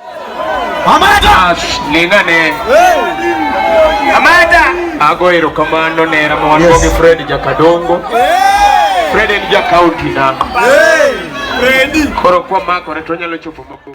Amada. Ningane. Amada. Ago erokamano ne Ramon yes. Bogi Fred Jakadongo. Hey. Fred en ja county na. Hey. Freddy. Koro kwa mako ne to nyalo chopo mako.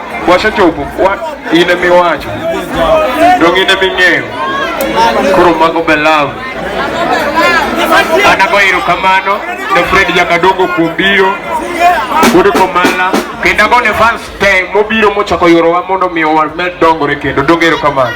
wasechopo wa, in ema iwacho dong in ema ing'eyo koro mago be love an ago erokamano ne Fred Jakadongo kuom biro kod komala kendo ago ne fans te mobiro mochako yorowa mondo omiyo wamed dongore kendo dong erokamano